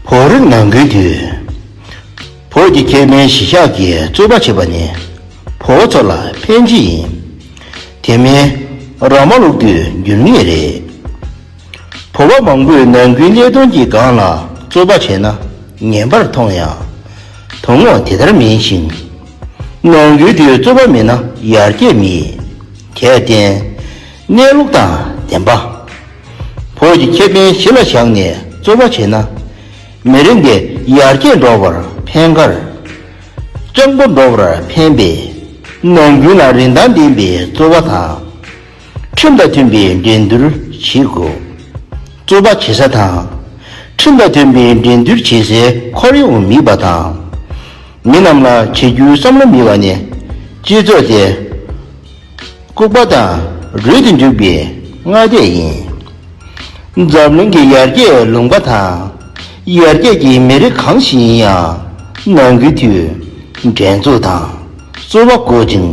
བོད་རིགས་ནང་ཁུལ་དུ། བོད་ཀྱི་ཁེ་ཕན་གཞི་བཞག་གིས་རྩོད་པ་བྱེད་པ་ནི་བོད་ཚོ་ལ་ཕན་ཅི་ཡིན། དེ་མིན་ར་མ་ལུག་དུས་འགྱུར་ངེས་རེད། བོད་པ་མང་པོས་ནང་ཁུལ་ལས་དོན་གྱི་སྒང་ལ་རྩོད་པ་བྱས་ན་ངན་པར་མཐོང་ཡང། དོན་དངོས་དེ་ལྟར་མིན་ཞིང། ནང་ཁུལ་དུ་རྩོད་པ་མེད་ན་ཡར་རྒྱས་མེད། དེར་བརྟེན། གནས་ལུགས་དང་ལྡན་པ། བོད་ཀྱི་ཁེ་ཕན་གཞི་ལ་བཞག་ནས་རྩོད་པ་བྱས་ན། མི་རིགས་འདི་ཡར་རྒྱས་འགྲོ་བར་ཕན་ཁར། སྤྱང་པོ་འགྲོ་བར་ཕན་པས། ནམ་རྒྱུན་ལ་རིན་ཐང་ལྡན་པའི་རྩོད་པ་དང། ཁྲིམས་དང་མཐུན་པའི་འགྲན་བསྡུར་བྱེད་དགོས། རྩོད་པ་བྱེད་ས་དང། ཁྲིམས་དང་མཐུན་པའི་འགྲན་བསྡུར་བྱེད་སའི་ཁོར་ཡུག་མིད་པ་དང། མི་རྣམས་ལ་བྱེད་རྒྱུའི་བསམ་བློ་མིད་པ་ནི་སྤྱི་ཚོགས་དེ། ལྐུགས་པ་དང་རུལ་དུ་འཇུག་པའི་སྔ་ལྟས་ཡིན། འཛམ་གླིང་གི་ཡར་རྒྱས་ལུང་པ་དང་ཡར་རྒྱས་ཀྱི་མི་རིགས་གང་ཞིག་ཡིན་ཡང་ནང་ཁུལ་གྱི་འགྲན་རྩོད་དང་རྩོད་པ་དཀོན་ཅིང།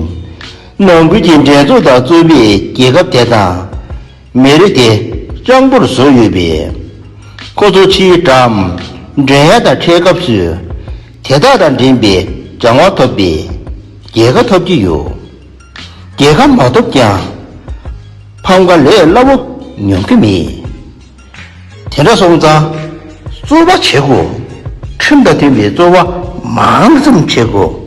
ནང་ཁུལ་གྱི་འགྲན་རྩོད་དང་རྩོད་པའི་རྒྱལ་ཁབ་དེ་དང། མེ་རི་དེ་གཙང་པོར་བཟོས་ཡོད་པས། ཁོ་ཚོ་ཕྱིའི་དྲ་མགྲོན་ཡ་དང་འཕྲད་སྐབས་སུ་དེ་དག་དང་འགྲན་པའི་བྱ་དབང་ཐོབ་པས་རྒྱལ་ཁ་ཐོབ་ཀྱི་ཡོད། རྒྱལ་ཁ་མ་ཐོབ་ཀྱང་ཕམ་ཁ་ལས་སླ་བོ་མྱོང་གི་མེད། དེ་འདྲ་སོང་ཙང་རྩོལ་བ་བྱེད་དགོས། ཁྲིམས་དང་མཐུན་པའི་རྩོལ་བ་མང་ཙམ་བྱེད་དགོས།